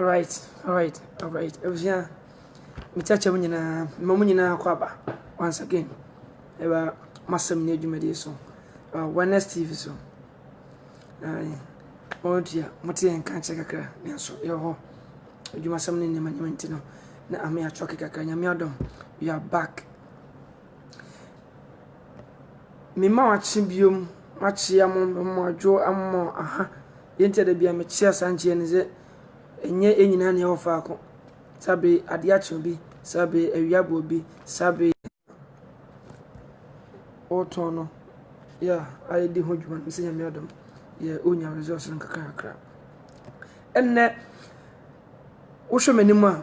Alright, alright, alright. Abusua, mekyɛkyɛ mu nyinaa, mma mu nyinaa akɔ aba. Once again, ɛba masɛm ne adwumadie so. Ɛba Wellness TV so. Ɔɔdea mote yɛn nka kyɛ kakra nanso yɛwɔ hɔ. Adwumasɛm ne nneɛma nneɛma nti no na ame atwɔke kakra. Nyame adom we are back. Mema wakye biom makye amo mema adwo amo aha. Deɛ nti a da bia mekyea saa nkyeɛ ne sɛ ɛnyɛ yɛn nyinaa na yɛwɔ faako. Saa bere adeɛ akye obi, saa bere awia abɔ obi, saa bere. Ɔretɔn no yɛ a ɔredi ho dwuma no sɛ Nyame adom yɛ a ɔrenya results no nkakrankakra. Ɛnnɛ, wohwɛ m'anim a,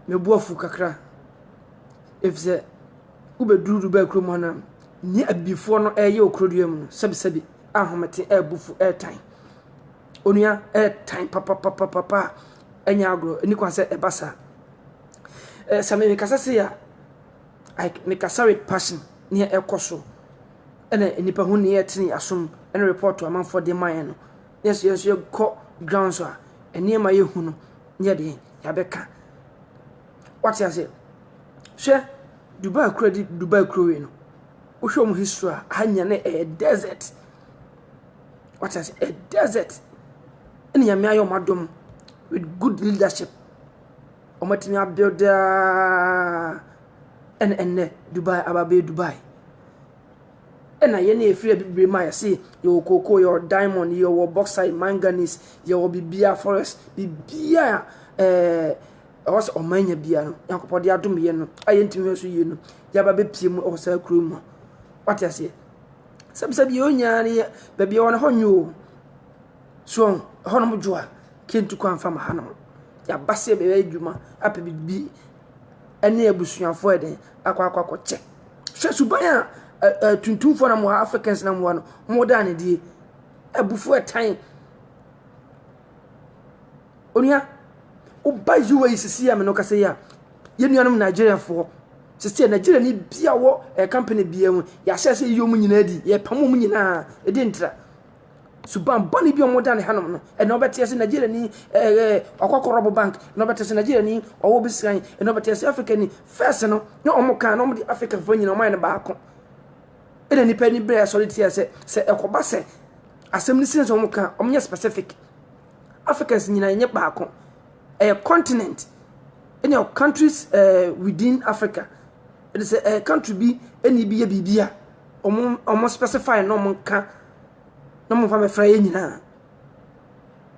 mebu afu kakra efisɛ wobɛduru Dubai kurom hɔ no a, nea abibifoɔ no ɛreyɛ wɔ kurodua mu no, sɛbisɛbi ahomete ɛrebu fu ɛretan. Onua ɛretan papapapapa a ɛnyɛ agorɔ, ɛnni kwan sɛ ɛba saa. Eh, sɛ merekasa sei a, like mekasa with passion, nea ɛkɔ so, ɛna nnipa ho nea ɛte ne asom, ɛna report amanfoɔ de ma yɛn no. Na yɛsɛ yɛn so yɛkɔ ground so a, nneɛma yɛhu no, ne yɛde yɛabɛka. Wate aseɛ? Hwɛ, Dubai kura di Dubai kuro wei no, wohwɛ wɔn history a, ha nyina na ɛyɛ desert. Wate aseɛ? Ɛyɛ desert. Ɛna nyame ayɛ wɔn adom with good leadership. Wɔatumi abuilde ara na ɛnnɛ Dubai aba abɛyɛ Dubai. Ɛna yɛn a yɛfiri Abibire mu a yɛse yɛwɔ cocoa, yɛwɔ diamond, yɛwɔ bauxite, manganese, yɛwɔ biribiara forest, biribiara a ɛɛ ɛwɔ sɛ ɔman nya biara no, Nyankopɔn de adom yɛn no a yɛntumi hwɛ so yie no, yɛaba bɛpie mu wɔ saa kuro mu. Wate aseɛ? Sɛbisɛbi yɛn nyinaa no yɛ baabi a ɛwɔ no ɛhɔ nyɛ o. So ɛhɔnom dwo a. Kyentu kwan fa ma ha nom. Yɛaba sɛ yɛbɛyɛ adwuma apɛ biribi ne abusuafoɔ ayɛ dɛn akɔ akɔ akɔkyɛ. Hwɛ suban a ɛ ɛ tuntumfoɔ nam wɔ ha Africans nam wɔ ha no wɔdaa no adie. Abufuo ɛtan. Onua woba UAE sisi yɛ a me ne wo kasa yi a yɛn nuanom Nigeriafoɔ sisi yɛ Nigeria ni bi a wɔ ɛ company biara mu yɛahyɛ sɛ yɛyi wɔn nyinaa di yɛpam wɔn nyinaa ɛdi ntira. Suban bɔne bi a wɔda ne hanom no, ɛna ɔbɛte ase Nigeria ni ɛɛ eh, eh, ɔkɔkɔ rɔbo bank, na ɔbɛte ase Nigeria ni ɔwɔ bi sran, ɛna ɔbɛte ase Africa ni fɛs no, na wɔn kan na wɔn de Africa fo nyina wɔn ayɛ no baako. Ɛna nipa ni bɛrɛ asɔre tia sɛ sɛ ɛkɔba sɛ asɛm no sin sɛ wɔn kan wɔn nyɛ specific. Africans nyina nyɛ baako. Ɛyɛ continent ɛna countries ɛɛ eh, within Africa. Ɛde sɛ ɛyɛ country bi ɛna ibi yɛ biribi a wɔn wɔn specify na wɔn ka. na momfa mɛfra yɛn nyinaa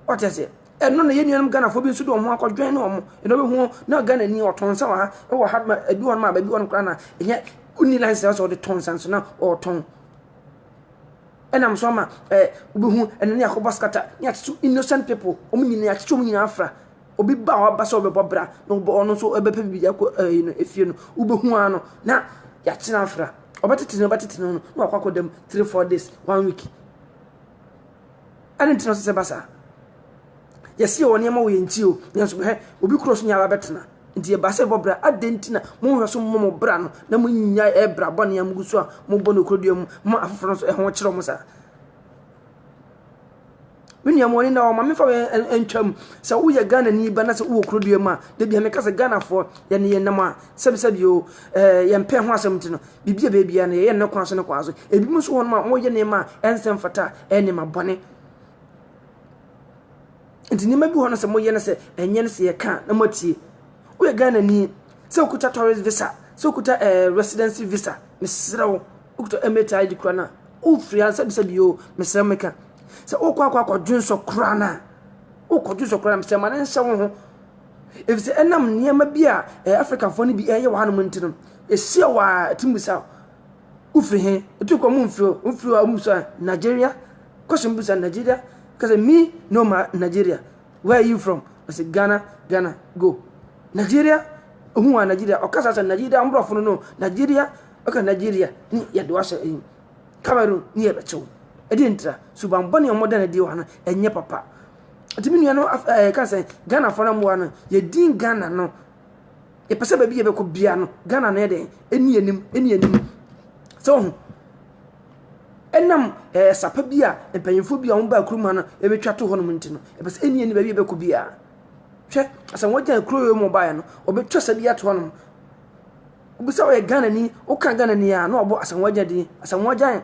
wate aseɛ ɛno na yɛn nuanom ghanafoɔ bi nso de wɔn akɔdwɛn ne wɔn ɛna wobɛhu na ghana ni ɔtɔn nsa wɔ ha ɛwɔ ha ma ebi wɔn ma baabi wɔn koraa na ɛnyɛ wonni license sɛ ɔde tɔn nsa nso na ɔretɔn ɛnam nso ama ɛɛ wobɛhu ɛna ne akɔbɔ scatter ne akyekye innocent people wɔn nyinaa akyekye wɔn nyinaa afra Obi ba a waba sɛ ɔbɛbɔ bra na ɔbɔ ɔno nso ɔbɛpɛ biribi de akɔ ɛyi no efie no wobɛhu ara no na yɛakyena afra ɔbɛtete no ɔbɛtete no no na wakɔ akɔda mu three four days one week ɛne ntina sɛ sɛ ba saa yɛsi yɛ wɔ nneɛma wɔ yɛn ti o yɛn nso hɛ obi kuro so nyɛ aba bɛtena nti yɛ ba sɛ bɔ bra adɛn nti na mo nhwɛ so mo mo bra no na mo nya ɛbra bɔ nea mo gu so a mo bɔ no kuro dua mu ma afoforo nso ɛho kyerɛ mo saa Me nua mo na ɔma mefa ntwam sɛ woyɛ Ghanani ba na sɛ wowɔ kurodua mu a da bia meka sɛ Ghanafoɔ yɛne yɛ nam a sɛbisɛbi o yɛmpɛ ho asɛm nti no biribi a baabiara no yɛyɛ no ne kwan so ne kwan so ebi mu nso wɔnom a wɔyɛ nneɛma a ɛnsɛ mfata a ɛyɛ nneɛma bɔne nti nneɛma bi hɔ no sɛ moyɛ no sɛ ɛnyɛ no sɛ yɛka na moatie woyɛ Ghanani sɛ wokuta tourist visa sɛ wokuta eh, residency visa mesrɛ wo Wokita MHI de kura no a, wofiri ha sɛbisɛbi o, mesrɛ meka. Sɛ wokɔ akɔ akɔdwonsɔ kura no a, wokɔdwonsɔ kura no mesrɛ ma no nhyɛ wo ho. Ɛfiri sɛ ɛnam nneɛma bi a ɛyɛ Afrikafoɔ no bi ɛyɛ wɔ hanom nti no, ɛhyia wo a, ɛtumi bisa wo, wofiri he? Ɛtumi kɔ momfiri o, wofiri hɔ a wommisa a, Nigeria? Question bisa Nigeria? Ka sɛ me no ma Nigeria. Where are you from? Ɔsɛ Ghana, Ghana, go. Nigeria? Ɔhu a Nigeria, ɔka saa sɛ Nigeria, mmorɔfo no no, Nigeria? Ɔka Nigeria ne yɛde wo ahyɛ ɛyi Cameroon ne yɛ bɛkyew. Ɛde ntira suban bɔne a wɔda no adi wɔ ha no ɛnyɛ papa. Nti me nua no ɛɛ ka sɛ Ghana fo no mmoa no yɛdin Ghana no yɛpɛ sɛ baabi yɛbɛkɔ bia no Ghana no yɛ dɛn ɛni anim ɛni anim sɛ ɔho ɛnam ɛɛ sapa bi a mpanyinfoɔ bi a wɔn baa kurom ha no ɛbɛtwa to hɔnom nti no ɛpɛ sɛ ɛni anim baabi yɛbɛkɔ bia hwɛ asɛ wɔn gyina kuro yɛ mu ɔbaeɛ no wɔbɛtwa sɛ bi ato hɔnom Obi sɛ ɔyɛ Ghanani, woka Ghanani a, na ɔbɔ Asamoah Gyan din. Asamoah Gyan,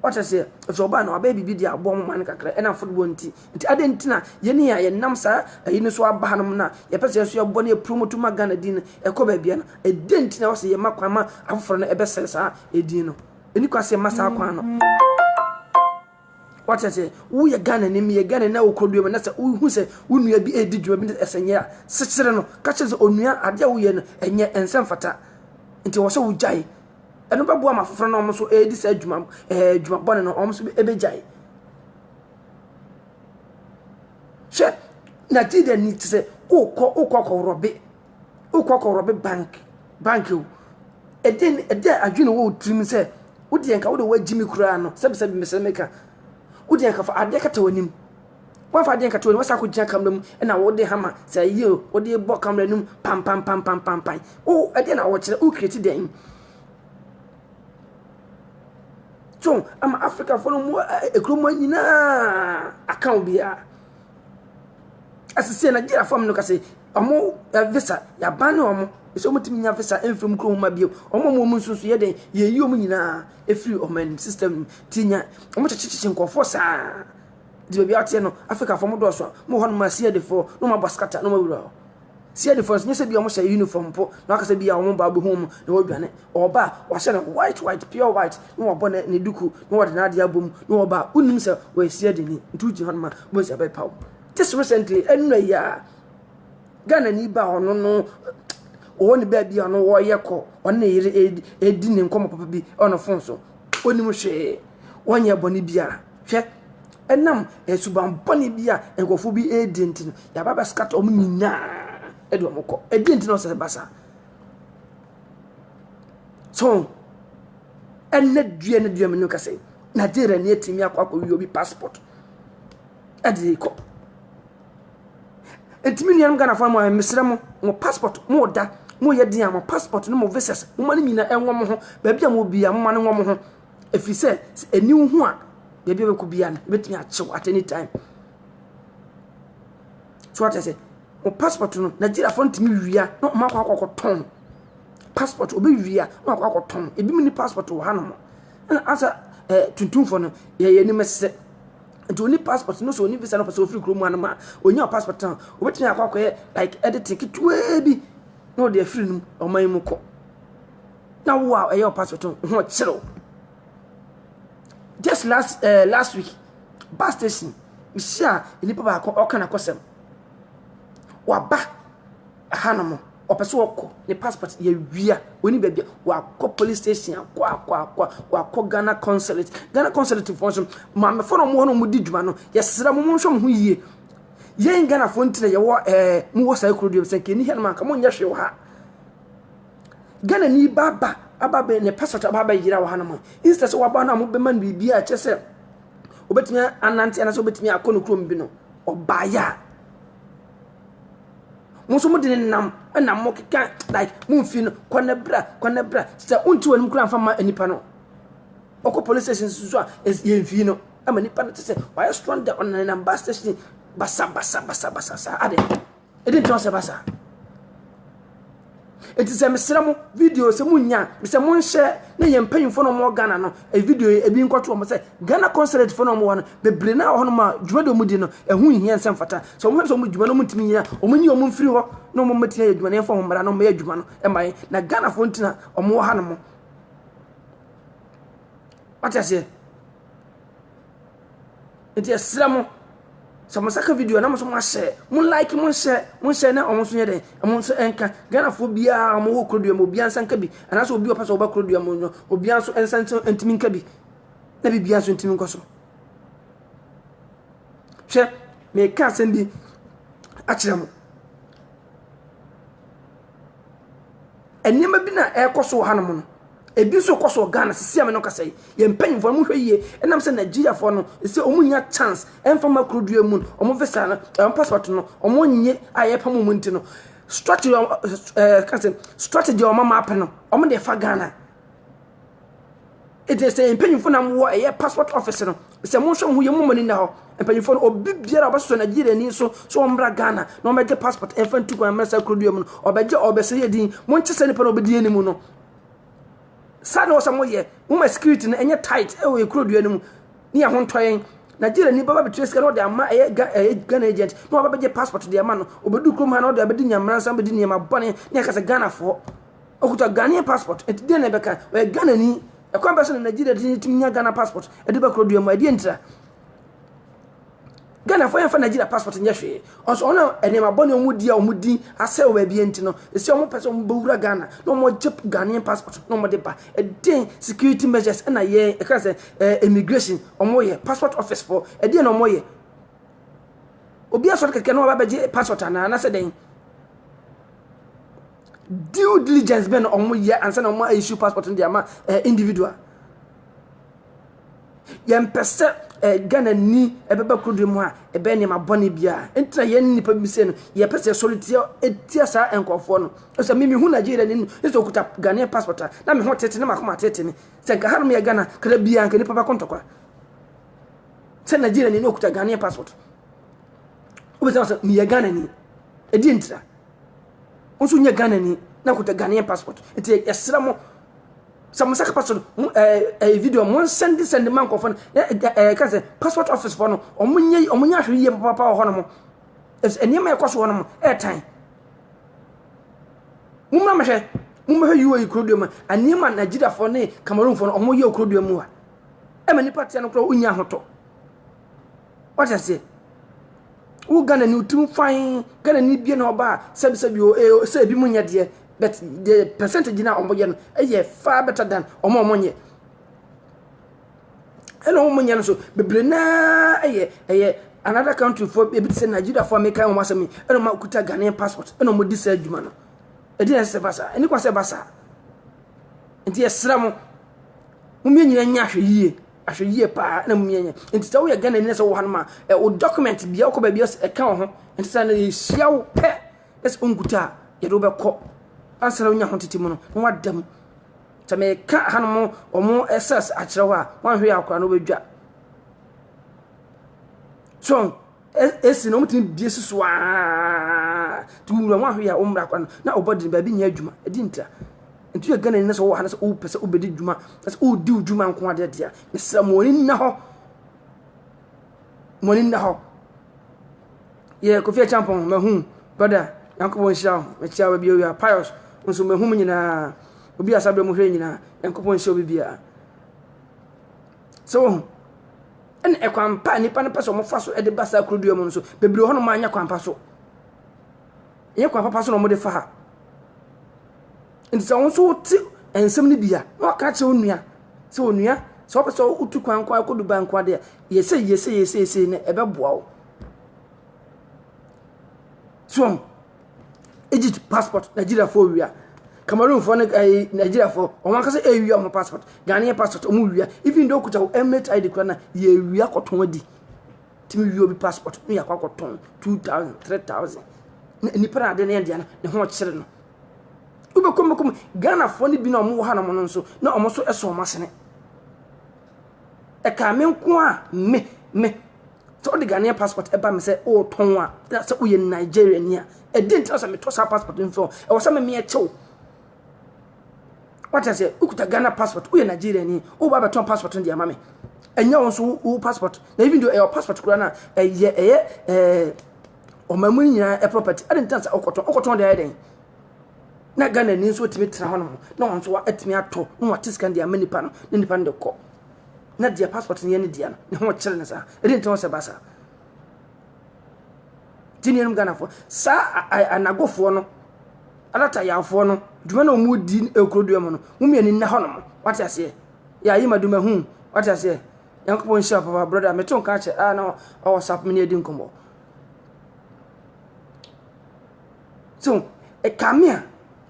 wate aseɛ, ɛfisɛ ɔbaa no, wabɛyɛ biribi de aboa mo man no kakra, ɛnam football nti. Nti adɛn nti na yɛn yi a yɛnam saa ayi no so aba hanom no a, yɛpɛ sɛ yɛn nso yɛbɔ na yɛpromoto ma Ghana din no ɛkɔ baabiara no, ɛdɛn nti na ɛwɔ sɛ yɛma kwan ma afoforɔ no ɛbɛsɛe saa edin no? Ɛnni kwan sɛ yɛma saa kwan no. Wate aseɛ, woyɛ Ghanani, meyɛ Ghanani na wokɔ dua mu na sɛ wohu sɛ wo nua bi redi dwuma bi na ɛsɛ nyɛ a, sekyere no. Ka kyerɛ sɛ onua adeɛ a woyɛ no ɛnyɛ ɛnsɛ mfata. Nti ɛwɔ sɛ wogyae. Ɛno bɛboa ma afoforɔ no wɔn nso ɛredi saa adwuma ɛɛ adwuma bɔne no wɔn nso ɛbɛgyae. Hwɛ, Nigeria ni te sɛ wokɔ wokɔ akɔworɔ be. wokɔ kɔ rɔbe bank bank o ɛdɛn ɛdɛ adwene wɔ tirim sɛ wodeɛ nka wode woagyi me koraa no sɛbisɛbi mesɛ meka wodeɛ nka fa adeɛ kata w'anim woamfa adeɛ nkata w'anim wasa akɔgyina kamera mu ɛna wode hama sɛ yie o wode bɔ kamera no mu pampampampampampan o ɛdeɛ na wɔkyerɛ wokireti dɛn so ama afrikafoɔ no mu ɛkurom nyinaa aka obiara Asese Nigeria fam no kase ɔmo visa yaban ne ɔmo ɛsɛ ɔmo tumi nya visa ɛmfiri ɔmo krom ma bio ɔmo ɔmo ɔmo nso yɛ dɛn yɛyi ɔmo nyinaa ɛfiri ɔmo anim system no ti nya ɔmo kyekyekye nkɔfoɔ saa di baabi ateɛ no Africa fam dɔɔso a mo hɔ no ma asia defoɔ no ma bɔ skata no ma wura hɔ. CID fo no nso, nyɛ sɛ bi wɔn hyɛ uniform mpo, na waka sɛ bi a wɔn ba bi ho mu na wɔdwane. Ɔba a wahyɛ no white white pure white, na wabɔ ne ne duku, na wɔde n'ade abɔ mu, na ɔba a wonim sɛ ɔyɛ CID ni, nti wogyina hɔ no ma wɔn sɛ bɛpaw. Just recently, ɛnna yi a Ghana ni ba ɔno no ɔwɔ ne baabi a ɔno wɔyɛ kɔ, ɔne ne yere edi ne nkɔmɔ papa bi ɔno fon so, onim hwee, ɔnyɛ bɔne biara. Hwɛ, ɛnam suban bɔne bi a nkurɔfo bi redi nti no, yɛaba bɛskata wɔn nyinaa de wɔn kɔ. Ɛdeɛn nti na ɔsɛ ba saa? So, ɛnɛ dua ne dua mu no kasa yi, Nigeria ni atumi akɔ akɔwie obi passport ɛde kɔ. Ɛtumi nuanom Ghanafoɔ mo a mesrɛ mo, mo passport mo da mo yɛ den a mo passport ne mo visas mo ma no nyinaa ɛnwɔ mo ho baabi a mo bi a mo ma no nwɔ mo ho. Ɛfiri sɛ, sɛ ɛnni wo ho a, baabi a wobɛkɔ biara no, ɛbɛtumi akye wo at any time. So ate sɛ, wo passport no, Nigeriafoɔ no tumi wia na wɔn akɔ akɔkɔtɔn. Passport, wɔbɛwia na wɔakɔ akɔtɔn. Ebinom ni passport wɔ hanom. Ɛna asa ɛɛ tuntumfoɔ no, yɛyɛ anim sɛ. Nti oni passport no so oni visa no pɛ sɛ ofiri kurom hanom a, onya passport no, obɛtumi akɔ akɔyɛ like editing ketewaa bi na ɔde afiri no ɔman mu kɔ. na wo a ɛyɛ ɔpassport no ho kyerɛw just last uh, last week bus station mehyia nipa baako ɔka n'akɔsɛm waba ahanom ɔpɛ sɛ ɔkɔ ne passport yɛwia ɔni baabi wakɔ police station akɔ akɔ akɔ wakɔ ghana consulate ghana consulate foɔ nso maamefo no wɔn a wɔdi dwuma no yɛsrɛ mo monhwɛ mo ho yie yɛn ghanafoɔ ntina yɛwɔ ɛɛ mowɔ saa kuro deɛ sɛ nkɛni hɛnom anka monyɛ hwee wɔ ha Ghanani ba ba aba bɛ ne passport aba abɛyera wɔ hanom a, instead sɛ waba no a mobɛma no biribi a ɛkyɛ sɛ obɛtumi anante anaasɛ obɛtumi akɔ ne kurom bi no, ɔbaeɛ a, mo nso mode ne nam na mokeka like momfi no kɔ ne bra kɔ ne bra sɛ wonte wɔ anim koraa mfa ma nipa no ɔkɔ police station nso a yɛmfii no ama nipa no te sɛ wayɛ stranded ɔnenam bus station basabasabasabasa saa ade Ɛdi nti ɔsɛ ba saa. Eti sɛ mesrɛ mo video sɛ mo nya sɛ mo nhyɛ ne yɛn mpanyinfo na wɔn Ghana no e video yi ebi nkɔto wɔn sɛ Ghana consulate fo na wɔn wɔ no bebree na wɔ hɔ nom a dwuma de wɔn di no ɛho e nhia nsɛm fata sɛ wɔn hwɛ sɛ wɔn dwuma no wɔn ntumi nyina wɔn nyi wɔn mfiri hɔ na wɔn mɛtumi ayɛ adwuma na yɛmfa wɔn mmara na wɔn yɛ adwuma no ɛma yɛn na Ghana fo ntina wɔn wɔ ha nom wate aseɛ Nti yɛsrɛ mo, sɛ mo nsa ka video a na mo nso moahyɛ, mo like, mo nhyɛ, mo nhyɛ na wɔn nso nyɛ dɛn, wɔn nso nka. Ghanafoɔ biara a wɔwɔ Kurodua mu, obiara nsa nka bi. Anaasɛ obi a ɔpɛ sɛ ɔba Kurodua mu no, obiara nso nsa nso ntumi nka bi. Na biribiara nso ntumi nkɔ so. Hwɛ, meka asɛm bi akyerɛ mo. Nneɛma bi na ɛrekɔ so wɔ hanom no, ebi nso rekɔ so wɔ Ghana seesei a me ne wo rekasa yi. Yɛn mpanimfoɔ no, monhwɛ yie. Ɛnam sɛ Nigeriafoɔ no, seesei wɔnnya chance mfa mma kuro mu no, wɔn visa no, wɔn passport no, wɔnnye a yɛrepam wɔn nti no, strategy a wɔn ɛɛ yɛka sɛ strategy a wɔama apɛ no, wɔde refa Ghana. Enti sɛ yɛn mpanyimfo nam wɔ ɛyɛ passport office no, sɛ monhwɛ mo ho yie, momma mo ani nna hɔ. Mpanyimfo no, obi biara a ɔbɛsosɔ Nigeriani so sɛ ɔmmra Ghana na ɔmmɛgye passport mfa ntu kwan mmra saa kurodua mu no, ɔbɛgye, ɔrebɛsɔ yɛn din. Monkyɛ sɛ nipa na ɔbɛdi yɛn anim no. Saa na ɔsɛ moyɛ. Momma security no ɛnyɛ tight ɛwɔ yɛn kurodua no mu ne yɛn ho ntɔ yɛn. Nigeriani bɛba bɛtua sika na ɔde ama ɛyɛ Ghana agent na wabɛgye passport de ama no. Ɔbɛdu kurom ha na ɔde abɛdi nyammaransɛm, abɛdi nneɛma bɔne na yɛaka sɛ Ghanafoɔ. Ɔkuta Ghanaian passport, ɛnti deɛ na ɛbɛka? Ɔyɛ Ghanani, ɛkwan bɛn so na Nigeria de tumi nya Ghana passport ɛde ba kuro dua mu a ɛdeɛ ntira? Ghana fo yɛn fa Nigeria passport nyɛ hwee, ɔnso ɔno ɛnneɛma bɔ ne ɔmo di a ɔmo di asɛ wɔ baabi ɛnti no, ɛsi ɔmo pɛ sɛ ɔmo bɛ wura Ghana na ɔmo gye Ghanaian passport na ɔmo de ba, ɛdeɛn security measures ɛna yɛn ɛka sɛ ɛɛ immigration ɔmo yɛ, passport office fo ɛdeɛn na ɔmo yɛ? Obi asɔre kɛkɛ na waba bɛgye passport anaa anasɛ dɛn? Due diligence bɛn na wɔyɛ ansa na wɔn issue passport no de ama eh, individual. Yɛmpɛ sɛ eh, Ghana ni ɛbɛba kurodo mu a ɛbɛyɛ nneɛma bɔne biara. Nti na yɛn nipa bi sɛ no yɛpɛ sɛ yɛsɔre tia tia saa nkurɔfoɔ no. Ɛsɛ mi mehu Nigeria ni no ɛsɛ okuta Ghanaian passport a na me ho tete ne makoma tete me. Sɛ nka hanom yɛ Ghana kada biara nka nipa bɛkɔ ntɔkwa. Sɛ Nigeria ni no okuta Ghanaian passport. Wobɛsɛ sɛ meyɛ Ghana ni. Ɛdi ntira. Wo nso nyɛ Ghana ni na nkuta Ghanaian passport. Nti yɛsrɛ mo sɛ mo saka passport mo ɛɛ eh, eh, video mo nsɛnde sɛnde ma nkɔfɔ no na ɛɛ eh, eh, ka sɛ passport office fɔ no ɔmo nyɛ ɔmo nyɛ ahwere yie papaapa wɔ hɔ nom. Ɛsɛ nneɛma ɛkɔ so hɔ nom ɛɛtan. Mo mmra mɛhwɛ mo mmɛhwɛ UAE kurodua mu a nneɛma Nigeriafoɔ ne Cameroonfoɔ no ɔmo yɛ okurodua mu a ɛma nipa teɛ no koraa onya ahotɔ. Wate aseɛ? Wo Ghana ni wotim fann, Ghana ni bie na ɔba a sɛbi sɛbi o ee o sɛ ebi mo nyɛ deɛ but the percentage na wɔn yɛ no yɛ far better than wɔn a wɔn nyɛ. Ɛna wɔn nyɛ no so bebree naa yɛ ɛyɛ another country foɔ ebi te sɛ Nigeria foɔ a meka wɔn asɛm yi ɛna wɔn akuta Ghanaian passport ɛna wɔn di saa adwuma no. Ɛdi na ɛsɛ sɛ ba saa ɛni kwan sɛ ɛba saa. Nti yɛsrɛ mo, mo mmienu nyinaa nyɛ ahwɛ yie. Ahwɛ yie paa na mmom yɛnyɛ nti sɛ woyɛ Ghana ni na sɛ wowɔ hanom a ɛ wo document bia wokɔ baabi a ɛka wo ho nti sɛ na yɛhyia wo pɛ na sɛ wonkuta a yɛde wobɛkɔ ansa na wonya ho tete mu no na woada mu sɛ meka hanom ɔmo ɛsɛs akyerɛ hɔ a woanhwɛ yɛ akora no wobɛdwa so ɛsi na wɔtumi bie si so aa nti wura ho ahwe a wɔmmra akwa no na ɔbɔ de baabi nyɛ adwuma ɛdi ntira nti yɛ gana ni na sɛ wɔwɔ ha na sɛ wopɛ sɛ wobɛdi dwuma na sɛ wodi wo dwuma nko adeɛ deɛ mesrɛ mo ani nna hɔ mo ani nna hɔ yɛ kofi akyampɔn mahu brother nyankopɔn nhyira wo mekyia wo bio wia pius nso mahu mu nyinaa obi asabrɛ mu hwɛ nyinaa nyankopɔn nhyira obi biara So woahu? Ɛna ɛkwan pa a nnipa no pɛ sɛ wɔfa so de ba saa kuro mu no so, bebree hɔ nom anyɛ kwan pa so. Ɛnyɛ kwan papa so na wɔde fa ha. Nti sɛ wo nso wote nsɛm no bi a, na waka kyerɛ wo nua sɛ onua sɛ wopɛ sɛ wotu kwan nko akɔ Dubai nko adeɛ a, yɛsɛ yɛsɛ yɛsɛ yɛsɛ na ɛbɛboa wo. So Egypt passport Nigeriafoɔ wia Cameroonfoɔ ne ɛyi eh, Nigeriafoɔ wɔn ankasa ɛwia wɔn passport Ghanaian passport wɔn wia even though kuta emirate ID kura na yɛwia kɔtɔn adi tumi wia obi passport ne yɛakɔ akɔtɔn two thousand three thousand na nipa na ade ne yɛn deɛ no ne ho ɔkyere no wobɛkɔ mbɛkɔ mu Ghanafoɔ ne bi na wɔn wɔ ha na wɔn nso na wɔn nso ɛsɔ wɔn asene. Ɛkaa me nko a me, me. Sɛ wode Ghanaian passport ba me sɛ wotɔn a, na sɛ woyɛ Nigeriani a, ɛdeɛ nti na sɛ metɔ saa passport no so a, ɛwɔ sɛ me meɛkye wo. Wate aseɛ, wokuta Ghana passport, woyɛ Nigeriani, woba abɛtɔn passport no de ama me. Ɛnyɛ wo nso wo passport, na even though ɛyɛ passport koraa no a, ɛyɛ ɛyɛ ɛɛ ɔman mu nyinaa property, ɛdeɛ nti na sɛ wokɔtɔn, wokɔtɔn de ayɛ dɛn? Na Ghana ni nso atumi tena hɔ nom na wɔn nso atumi atɔ na wɔate sika de ama nipa no na nipa no de kɔ na deɛ passport no yɛ ne deɛ no ne ho kyerɛ ne saa ɛde ntina sɛ ba saa ti nuanom Ghanafoɔ saa anagofoɔ no alatayaafoɔ no dwuma na wɔn di akurodua mu no wɔn mmienu nna hɔ nom wɔate aseɛ yɛ ayi ma duma hu wɔate aseɛ yankopɔn nhyira papa brɔda meto nka akyɛ a na ɔwɔ sapomene adi nkɔmmɔ So ɛka me a,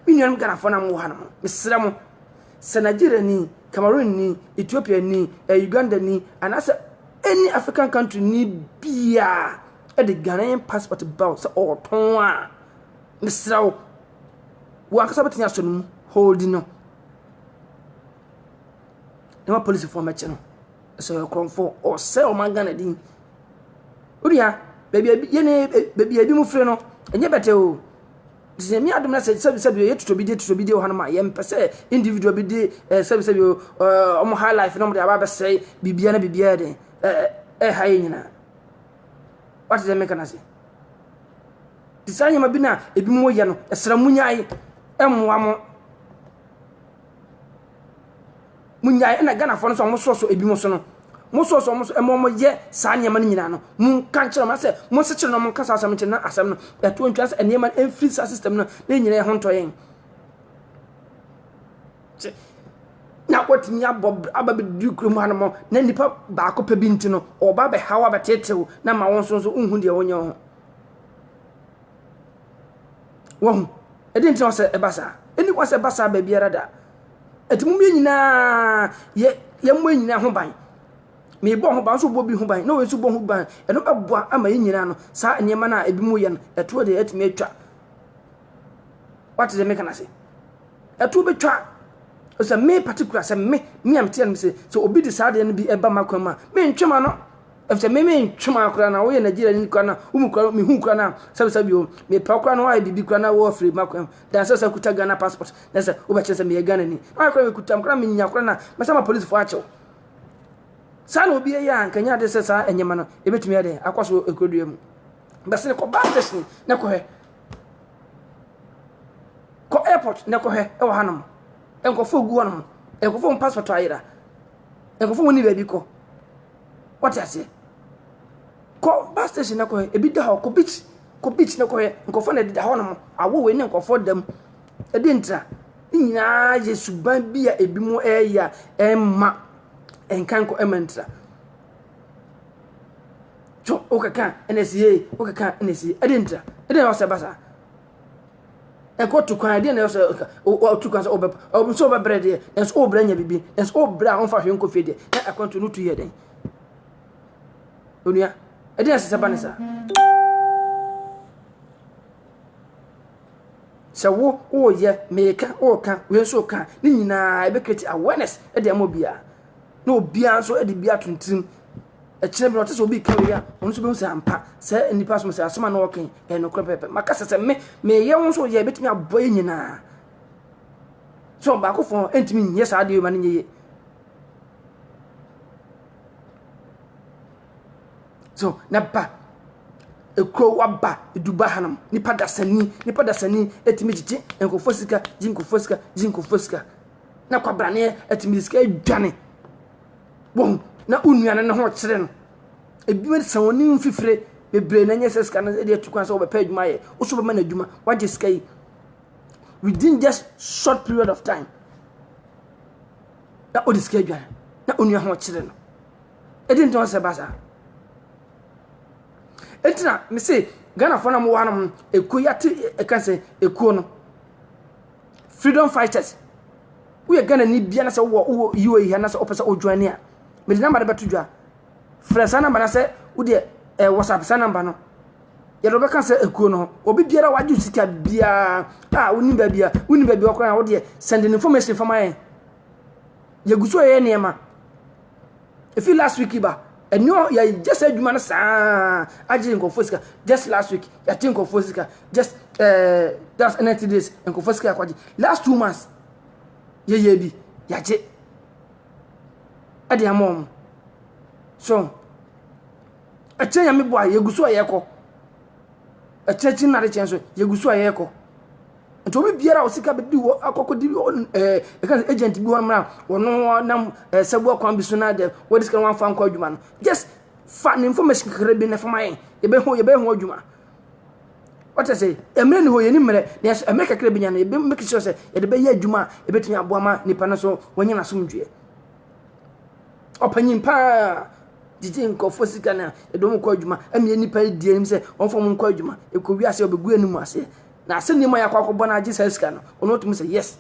me nuanom Ghanafoɔ na mowɔ ha no mo, mesrɛ mo, sɛ Nigeriani, Cameroonni, Ethiopiani, eh, Ugandani, anaasɛ any African country ni biara de Ghanaian passport ba sɛ ɔretɔn a, mesrɛ wo, wɔn ankasa bɛtumi asɔ no mu holding no na ma polisifoɔ mɛkyɛ no ɛsɛ ɔyɛ korɔmfoɔ ɔsɛ ɔman Ghana din Wo nua, baabi a yɛn baabi a ebinom firi no, ɛnyɛ bɛtɛ o. Sɛ Nyame adom na sɛ sɛbisɛbi o, yɛtoto bi de toto bi de wɔ hanom a, yɛmpɛ sɛ individual bi de eh, sɛbisɛbi o, eh, wɔn high life na wɔn de aba abɛsɛe biribiara na biribiara den eh, eh, ɛha yɛn nyinaa. Wate sɛ meka no ase? Te saa nneɛma bi na ebinom yɛ no, ɛsrɛ mo nyae, ɛmmoa mo. Monnyae, ɛna Ghanafoɔ no nso a wɔsɔsɔ ebinom so no, mosɔsɔ wɔn so ma wɔyɛ saa nneɛma no nyinaa no, monka nkyerɛ wɔn asɛ monsekyere no monka saa asɛm nkyerɛ na asɛm no ɛtoɔ ntwa sɛ nneɛma no ɛmfiri saa system no na nyina yɛ ho ntɔ yɛn na watumi abɔ aba bɛduru kurom ha no mɔ na nnipa baako pɛ bi nti no ɔba bɛhaw abɛtetew na ma wɔn nso nso nhu deɛ wɔnyɛ ho Wahu? Ɛdeɛ nti na ɔsɛ ɛba saa? Ɛni kwan sɛ ɛba saa baabiara da. Ɛti mu yɛ nyinaa yɛ yɛmmɔ yɛ nyinaa ho ban. Meebɔ ho ban nso bɔ bi ho ban na wɔn nso bɔ ho ban. Ɛno bɛboa ama yɛ nyinaa no saa nneɛma no a ebi mu yɛ no ɛtoɔ deɛ ɛtumi atwa. Wate deɛ meka no ase? Ɛtoɔ bɛtwa sɛ me particular sɛ me me a meteɛ no sɛ sɛ obi de saa adeɛ no bi ɛba m'akwan mu a mentwe m'ano. Efisɛ me me ntwe ma koraa na woyɛ Nigeria ni koraa na wo mu koraa me hu koraa na sɛbi sɛbi o me pɛ koraa na woayɛ biribi koraa na wo afiri ma koraa dan sɛ sɛ kuta Ghana passport na sɛ wo bɛkyerɛ sɛ meyɛ Ghana ni na ayɛ koraa me kuta koraa me nya koraa na mɛsa ma polisi fo akyɛw saa na obi yɛ a nkanya ade sɛ saa ɛnyɛma no ebetumi ayɛ dɛ akɔ so ekodua mu bɛsene kɔ bus station na kɔhɛ kɔ airport na kɔhɛ ɛwɔ hanom nkɔfo gu hɔnom nkɔfo passport ayera nkɔfo wɔn ni baabi kɔ Wate aseɛ? Kɔ bus station na kɔhwɛ, ebi da hɔ, kɔ beach, kɔ beach na kɔhwɛ, nkurɔfoɔ na ɛdeda hɔ nom, awo wei ne nkurɔfoɔ da mu. Ɛde ntira. Ne nyinaa yɛ suban bi a ebi mu ɛreyɛ a ɛmma nkanko ɛmma ntira. So wokeka ɛna ɛsi yie, wokeka ɛna ɛsi yie, ɛde ntira. Ɛde na ɔsɛ ba saa. ɛkɔ to kwan ɛdeɛ na ɛsɛ ɛka ɔtu kwan sɛ ɔbɛ ɔbɛ sɛ ɔbɛbrɛ deɛ ɛsɛ ɔbrɛ nya bibi ɛsɛ ɔbrɛ a ɔnfa hwɛ nkɔ fie deɛ na akwantu no tu yɛ dɛn onua ɛdeɛ ɛsɛ sɛ ba ne saa sɛ wo ɔɔyɛ meka ɔɔka wei nso ɔka ne nyinaa ɛbɛkreti awareness ɛde ama obiara na obiara nso ɛde bi atontirim Ɛkyerɛ bi na ɔte sɛ obi ka wei a, ɔno nso bɛhu sɛ ampa sɛ nnipa som sɛ asɛm a na ɔka ɛyɛ nokorɛ pɛpɛ. Maka sɛ sɛ me meyɛ wo nso yɛ ɛbɛtumi abɔ yɛ nyinaa. So baako fɔn ɛntumi nyɛ saa adeɛ ma no nyɛ yie. So na ba ekuro waba eduba hanom nipa dasani nipa dasani ɛtumi gyigye nkurɔfoɔ sika gye nkurɔfoɔ sika gye nkurɔfoɔ sika na kwabraneɛ ɛtumi sika adwane. wɔn ho na wo nua no ne ho kyere no ebi wɔ sɛ wɔn ho fifire bebree na nyɛ sɛ sika no de atu kwan sɛ wɔbɛpɛ adwuma yɛ woso bɛma no adwuma wagye sika yi within just short period of time na ɔde sika adwane na onua ho kyere no ɛdi ntɔn sɛ ba saa ɛti na mese ghanafoɔ no mowɔ hanom ɛkuo yi ate ɛka sɛ ɛkuo no Freedom fighters. Woyɛ Ghana ni bia na sɛ wowɔ wowɔ UAE ha na sɛ wopɛ sɛ wojoin ni a. Mede number no bɛto dwa. Frɛ saa number na sɛ wodeɛ eh, WhatsApp saa number no. Yɛde wobɛka sɛ ekuo no ho. Obi biara wagye sika biara a wonim baabi a wonim baabi a ɔkora a wodeɛ send information fama yɛn. Yɛgu so yɛ nneɛma. Efi last week ba. Ɛni hɔ yɛ gye sɛ adwuma no saa agye nkurɔfoɔ sika. Just last week yɛate nkurɔfoɔ sika. Just ɛɛ that's ninety days nkurɔfoɔ sika akɔgye. Last two months yɛyɛ bi yɛagye ɛde ama wɔn. So ɛkyɛn yɛn mi bɔ a yɛgu so a yɛkɔ. Ɛkyɛn kyɛn na de kyɛn so yɛgu so a yɛkɔ. Nti obi biara a osika bedi hɔ akɔkɔdi ɛka sɛ agent bi hɔ mmra ɔno nam sɛboa kwan bi so na de wɔde sika wɔn afa nkɔ adwuma no just fa ne information kakra bi na fa ma yɛn yɛbɛho yɛbɛho adwuma wɔte sɛ mmerɛ ne hɔ yɛni mmerɛ nanso mmerɛ kakra bi nya no yɛbɛ make sure sɛ yɛde bɛyɛ adwuma a yɛbɛtumi aboa ma nipa no so wɔnyɛ n'asomdwoeɛ ɔpanyin paa gyegye nkurɔfoɔ sika no a ɛde wɔn kɔ adwuma ɛmmeɛ nipa di anim sɛ wɔmfa wɔn nkɔ adwuma ɛkɔ wiase ɔbɛgu anim aseɛ Na sɛ nneɛma yɛakɔ akɔbɔ no agye saa sika no, ɔno ɔtumi sɛ yes.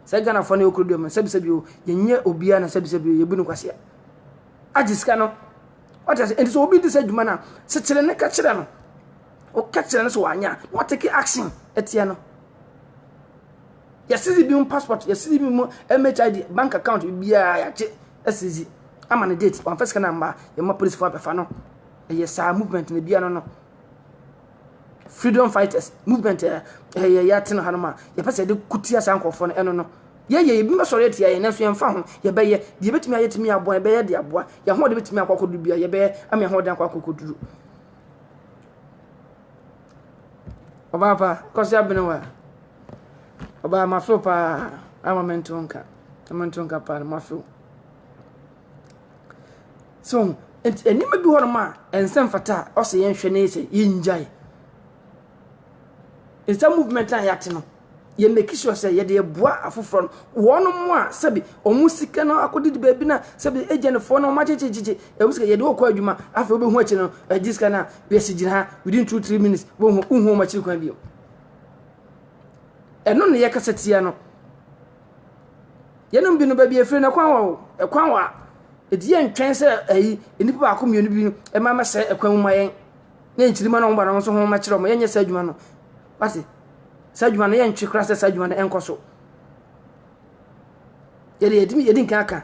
Sɛ Ghanafoɔ no yɛ okuro duom no, sɛbisɛbi o, yɛnyɛ obiara na sɛbisɛbi o, yɛbu no kwasea. Agye sika no, wate ase, ɛnti sɛ obi di sɛ adwuma no a, kyekyere ne ka kyerɛ no. Ɔka kyerɛ no sɛ wanyɛ a, na watake action atia no. Yɛsisi bi mu passport, yɛsisi bi mu MHID, bank account, biara yɛagye asisi ama no date, wamfa sika no amma, yɛma policefoɔ abɛfa no. Ɛyɛ saa movement no biara no no. freedom fighters movement ɛ eh, yɛ yɛatena hanom a yɛpɛ sɛ yɛde ko tia saa nkurɔfoɔ no ɛno no yɛyɛ ebi bɛsɔre atia yɛn nanso yɛmfa ho yɛbɛyɛ deɛ yɛbɛtumi ayɛ tumi aboa yɛbɛyɛ de aboa yɛn ahoɔden bɛtumi akɔ akɔduru bia yɛbɛyɛ ama yɛn ahoɔden akɔ akɔkɔduru ɔbaa pa kɔsi abene wa ɔbaa mafew paa ama mento nka mento nka paa mafew So ho? Nti nneɛma bi hɔnom a ɛnsɛ mfata a ɔsɛ yɛn hwɛ ne sɛ yɛn gyae. Nsa movement a yɛate no, yɛ make sure sɛ yɛde ɛboa afoforɔ no. Wɔnom a sɛbi wɔn sika no akɔdidi baabi na sɛbi agyanfoɔ no wɔn agyegyegyegye ɛmu sika yɛde wɔkɔ adwuma afei wobɛhu akyire no ɛgye sika no a yɛsi gyina ha within two three minutes wohu wohu wɔn akyiri kwan bio. Ɛno na yɛkasa tia no. Yeinom binom baabi a wɔfiri no, ɛkwan wɔ hɔ. Ɛkwan wɔ ha. Ɛdeɛ ntwɛn sɛ ayi nnipa baako mmienu bi mma mmɛsɛe ɛkwan mu mma yɛn ne yɛn nkyirimma no a wɔba no wɔn nso wɔmmɛkyerɛ wɔn yɛnyɛ saa adwuma no. Wate? Saa adwuma no yɛntwe koraa sɛ saa adwuma no ɛnkɔ so. Yɛde yɛdi yɛdi nkan aka.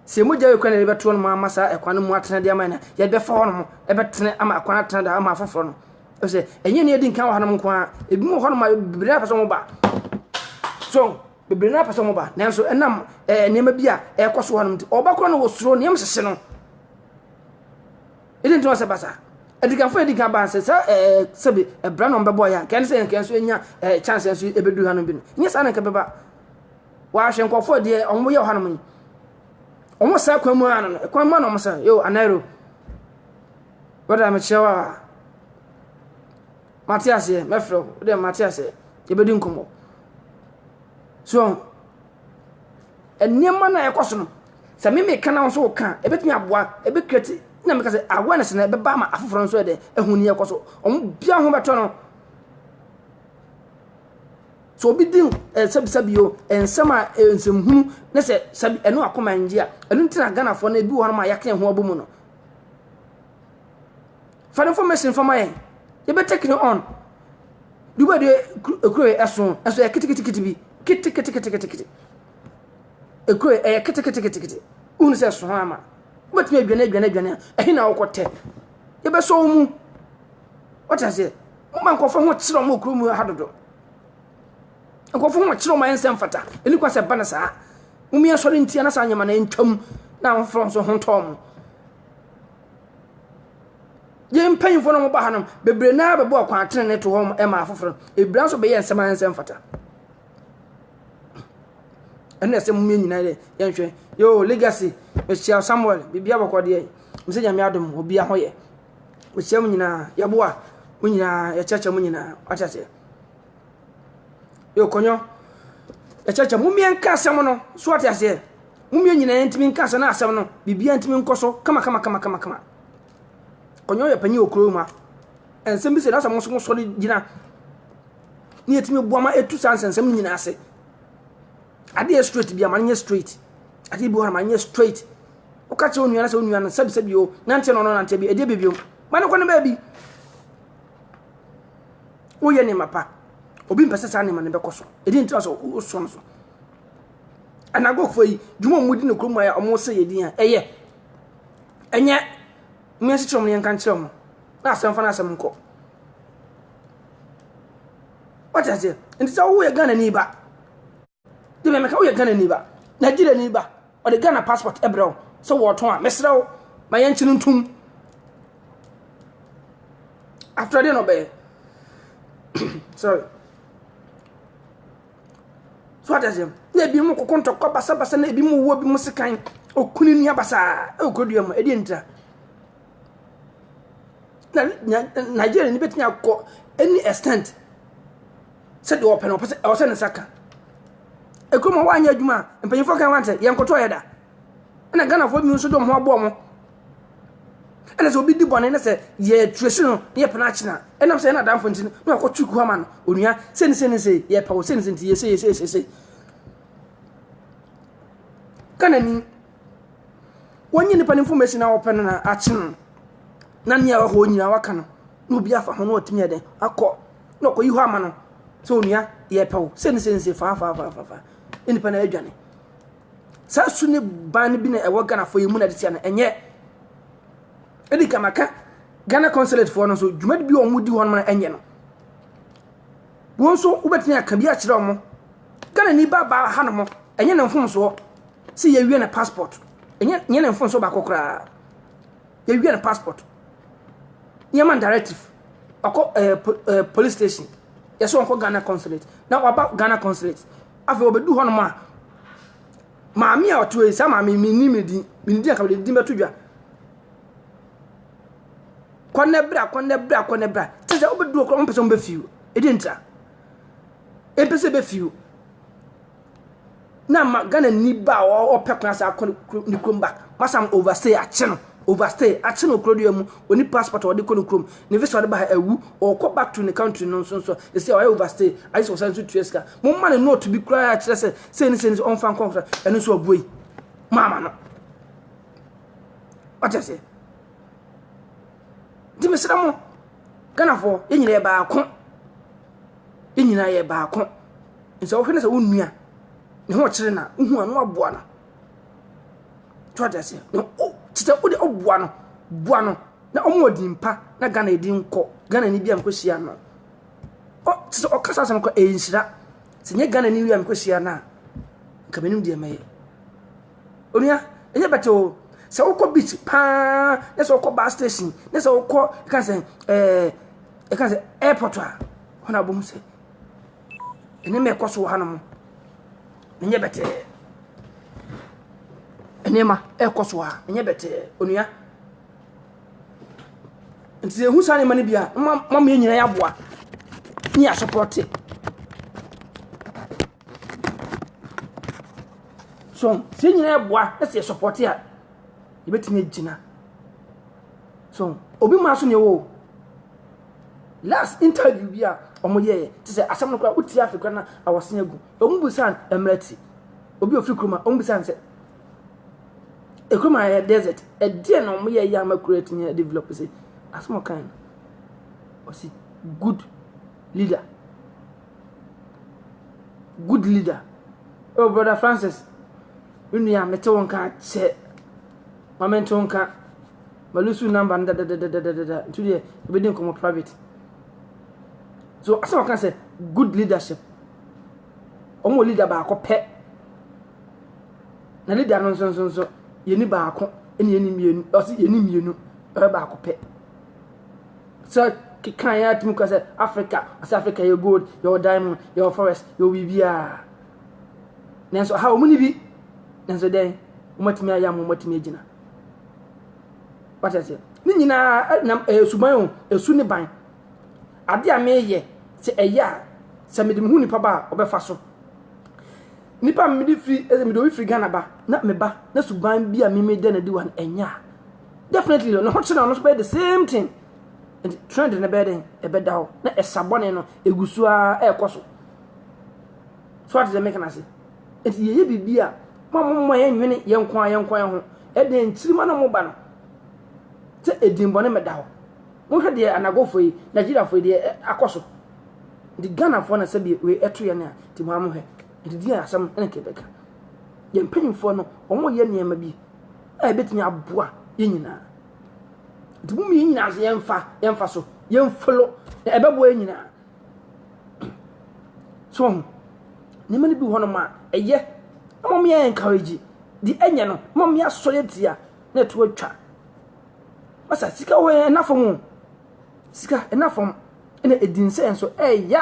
Sɛ emu gya yɛ kwan a yɛde bɛto hɔ nom ama saa ɛkwan no mu atena de ama yɛn a, yɛde bɛfa hɔ nom ɛbɛtene ama ɛkwan atena da ama afoforɔ no. Ɛsɛ ɛnyɛ ni adi nkan wɔ hanom nko ara. Ebi mu wɔ hɔ nom a bebree na apɛ sɛ wɔn ba. So bebree na apɛ sɛ wɔn ba. Nanso ɛnam ɛɛ eh, nneɛma bi a ɛrekɔ so hɔ nom nti, ɔba koro no wɔsoro nneɛma hyehye no. Ɛdi nti wɔsɛ basa. Adikanfo edi kan ba nsɛ sɛ ɛɛ eh, sɛbi ɛbra na wɔn bɛbɔ yɛn. Kɛn sɛ yɛn kɛn so enya ɛɛ eh, chance nso ebedu hanom bi no. Nyɛ saa na nka bɛba. Wɔahwɛ nkurɔfoɔ deɛ wɔn yɛ wɔ hanom yi. Wɔn saa kwan mu ara no, kwan mu ara na wɔn sɛ, yo, anaero. Brɔda, mekyerɛ wo a, mate aseɛ, mɛfrɛ wo, wode mate aseɛ, yɛbɛdi nkɔmmɔ. So, nneɛma no a ɛkɔ so no, sɛ me meka na wo nso woka, ɛbɛtumi aboa, ɛbɛkreti, na meka sɛ awareness na ɛbɛba ama afoforɔ nso ɛdɛ, ɛho ni ɛkɔ so. Wɔn bia ho bɛtɔ no. Sɛ obi di eh, sɛbisɛbi o, eh, nsɛm a eh, nsɛmhunu ne sɛ sɛbi ɛno akoma ngye a, ɛno nti na Ghanafoɔ no ebi wɔ hɔnom a yɛaka yɛn ho abɔ mu no. Fa no information fa ma yɛn. Yɛbɛtake no on. De wɔ de ekuro yɛ ɛso ɛso yɛ kitikitikiti bi kitikitikitikiti. Ekuro yɛ ɛyɛ kitikitikitikiti. Wohunu sɛ ɛso ho ama. Wobɛtumi adwane adwane adwane a ɛhe na wokɔ tɛ. Yɛbɛsɔ wo mu. Wɔte aseɛ. Moma nkɔfoɔ ho kyerɛ wɔn wɔ kuro mu ha dodo. Nkorɔfo hɔn kyerɛw ma hɛn nsɛm fata. Emi kwa sɛ ba no saa. Hom yi asɔr ntsia na saa ndzɛmba no ntwa mu na afofor so ho ntɔ hom. Hɛn mpanyimfo na wɔba ha no, beberee no ara bɔbɔɔ kwan tsenenee too hɔ ma afofor. Ebira so bɛyɛɛ nsɛm a nsɛm fata. Ɛno na ɛsɛ mo yɛ nyinaa dɛ yɛnhwɛ. Yoo, Legacy, mehyia wo. Samuel, biribiara bɔkɔ deɛ? Mese Nyame adom, obiara ho yɛ. Ɔhyia mo nyinaa, yɛboa mo nyinaa, yɛkyerɛkyerɛ mo nyinaa. Wate aseɛ? Yɛkɔnyɔ, yɛkyerɛkyerɛ mo mmea nka asɛm no. So wate aseɛ? Mo mmea nyinaa ntumi nka asɛm na asɛm no, biribiara ntumi nkɔ so kama kama kama kama kama. Kɔnyɔ yɛ panyin wɔ kuro mu a, nsɛm bi sɛ na sɛ mo nso mo sɔre gyina ne yɛtumi boa ma ɛtu saa nsɛnsɛm no nyinaa ase adeɛ straight bi ama no nyɛ straight adeɛ bi wɔ ama no nyɛ straight woka kyerɛ onua no sɛ onua no sɛbisɛbi o nante na ɔno nante bi ɛdeɛ baabi o ma no kɔ no baabi woyɛ nneɛma pa obi mpɛ sɛ saa nneɛma no bɛkɔ so ɛdi ntra sɛ wosɔ no so anagɔfoɔ yi dwuma a wɔdi no kurom a wɔsɛ yɛ din a ɛyɛ ɛnyɛ mmea si kyerɛ wɔn yɛnka nkyerɛ wɔn na asɛm fa no asɛm nkɔ wɔte aseɛ nti sɛ woyɛ ghana ni ba de me meka woyɛ ghanani ba nigeriani ba ɔde ghana passport ɛbrɛ wo sɛ wɔɔtɔn a mesrɛ wo ma yɛnkye no ntom after deɛ na ɔbɛyɛ sorry so ate aseɛ na ebi mu koko ntɔkwa basabasa na ebi mu wuo bi mu sekan okunu ni abasaa ɛwɔ kurodua mu ɛdeɛ ntira na nigeria ni bɛtumi akɔ any extent sɛdeɛ ɔpɛ no ɔpɛ sɛ ɛwɔ sɛ ne nsa ka ekurom a wanyɛ adwuma a mpanyinfoɔ kan wante yɛn nkɔtɔ yɛ da ɛna ghanafoɔ bi nso de wɔn ho aboɔ mo ɛna sɛ obi di bɔne na sɛ yɛ ture si no na yɛ pɛn akyina ɛnam sɛ yɛn adanfo nti na ɔkɔ tu kuama no onua sɛni sɛni sɛ yɛ pɛ wɔ sɛni sɛni ti yɛ sɛ yɛ sɛ yɛ sɛ ghana ni wɔn nyɛ nipa ne nfo mɛsi na wɔpɛ no na akyi no na nea ɛwɔ hɔ nyinaa waka no na obi afa ho na ɔtumi yɛ dɛ akɔ na ɔkɔyi hɔ ama no sɛ onua yɛpɛ wo sɛ ne sɛ nse faafaafaafaa ne nipa no adwane saa su ne ban no bi na ɛwɔ ghanafoɔ yɛ mu na de tia no ɛnyɛ ɛdi ka maka ghana consulatefoɔ no nso dwumadi bi a wɔn di hɔ no ɛnyɛ no wɔn nso wobɛtumi aka bi akyerɛ wɔn ghana ni ba baa ha no mo ɛnyɛ ne mfomsoɔ sɛ yɛwie ne passport ɛnyɛ ne mfomsoɔ baako koraa Yɛwia no passport. Yɛma no directive. Ɔkɔ ɛɛ eh, po ɛɛ eh, police station. Yɛsɛ ɔnkɔ Ghana consulate. Na waba Ghana consulate. Afei ɔbɛdu hɔnom a maame a ɔte hɔ yi saa maame yi menni me din mene din a kabɛde din bɛto dwa kɔnɛ bra kɔnɛ bra kɔnɛ bra te sɛ wobɛdu ɔkorɔ ɔmpɛ sɛ wobɛfiw ɛdi ntra ɛmpɛ sɛ bɛfiw na ma Ghana ni ba a ɔpɛ kwan sɛ akɔ ne kurom ba wasan overstay akye no overstay akye no kuro deɛ mu ɔni passport a ɔde kɔ ne kurom ne visa ɔde ba ha awu ɔkɔ back to ne country no nso nso ɛsɛ ɔyɛ overstay ayɛ sɛ ɔsan nso tua sika mo mma ne note bi koraa kyerɛ sɛ sɛ ne sɛ ne sɛ ɔmfa nkɔ nkora ɛno nso ɔbue maama no ɔkyɛ sɛ nti mesrɛ mo ghanafoɔ yɛnyina yɛ baako Yɛn nyinaa yɛ baako. Nso wohwɛ no sɛ wo nua ne ho ɔkyere na wohu ano aboa no. To ate aseɛ. Na o te sɛ wode ɔboa no boa no na ɔmo wɔ din pa na Ghana edi nkɔ. Ghana ni bi a mekɔ hyia no. Ɔ te sɛ ɔkasa asɛm kɔ ɛyɛ nhyira. Sɛ nyɛ Ghana ni wi a mekɔ hyia no a nka menim deɛ mɛyɛ. Onua, ɛnyɛ bɛtɛ o. Sɛ wokɔ beach paa, na sɛ wokɔ bus station, na sɛ wokɔ ɛka sɛ ɛɛ ɛka sɛ airport a, hɔ na wobɛhu sɛ nneɛma ɛkɔ so wɔ hanom. Ɛnyɛ bɛtɛ. Nneɛma ɛkɔ so a, ɛnyɛ bɛtɛ. Onua. Nti sɛ ehu saa nneɛma no bi a, mma mma yɛn nyinaa yɛaboa ne yɛasopɔte. So sɛ yɛn nyinaa boa na sɛ yɛ support a, yɛbɛtumi agyina. So obi maa so na ɛwɔ o. Last interview bi a wɔyɛɛ te sɛ asɛm no koraa wotie afe koraa na awɔse agu. Wɔn bisa mmerɛ ti. Obi ofiri kurom a wɔn bisa sɛ ekurom a yɛ desert ɛdeɛ na wɔyɛ yɛ ama kuro atumi yɛ develop sɛ asɛm ɔkan no ɔsi good leader. Good leader. Oh, Brother Francis, me nua mete wo nka kyɛ. Ma me nto nka. Ma lusu number no dadadadadada. Nti deɛ, yɛbɛdi nkɔmmɔ private. So, asɛm ɔka sɛ, good leadership. Wɔn wɔ leader baako pɛ. Na leader no nso nso nso, yɛni baako, ɛne yɛni mmienu, ɔsi yɛni mmienu, ɛbɛ baako pɛ. Sɛ keka yɛ a tumi kɔ sɛ Africa, ɔsɛ Africa yɛ gold, yɛwɔ diamond, yɛwɔ forest, yɛwɔ biribiara. Nanso ha wɔn ni bi. Nanso dɛn, wɔatumi ayɛ ama wɔatumi agyina. Wate aseɛ? Ne nyinaa nam ɛyɛ suban o, esu ne ban. Ade a meyɛ sɛ ɛyɛ a sɛ mede me ho nipa ba a ɔbɛfa so. Nipa a mede firi ɛsɛ mede obi firi Ghana ba na meba na suban bi a mimi dɛ na di wa no ɛnyɛ a. definitely no ne ho kyerɛ ɔno nso bɛyɛ the same thing nti trend no bɛyɛ dɛn ɛbɛda hɔ na ɛsa bɔne no ɛgu so ara ɛrekɔ so so ate sɛ meka no ase nti yɛyɛ biribi a ma momma yɛnwene yɛn nko a yɛn nko yɛn ho ɛdeɛ nkyirima no moba no sɛ ɛdin bɔne mɛda hɔ wohwɛ deɛ anagofo yi nigeriafo yi deɛ akɔ so nti ghanafoɔ na sɛ bi wei ɛto yɛn a nti mo amohwɛ nti di asɛm ɛne kɛbɛka yɛn mpanyinfoɔ no wɔn yɛ nneɛma bi a ebetumi aboa yɛn nyinaa. Nti mo yɛn nyinaa so yɛmfa yɛmfa so yɛmfolo na ɛbɛboa yɛn nyinaa. So ho nneɛma no bi wɔ hɔnom a ɛyɛ na wɔn yɛ encourage de ɛnyɛ no na wɔn asɔ yɛ tia na ɛto atwa. Masa sika wɔ yɛn ɛna fam o sika ɛna fam ɛna edi nsɛ nso ɛɛya.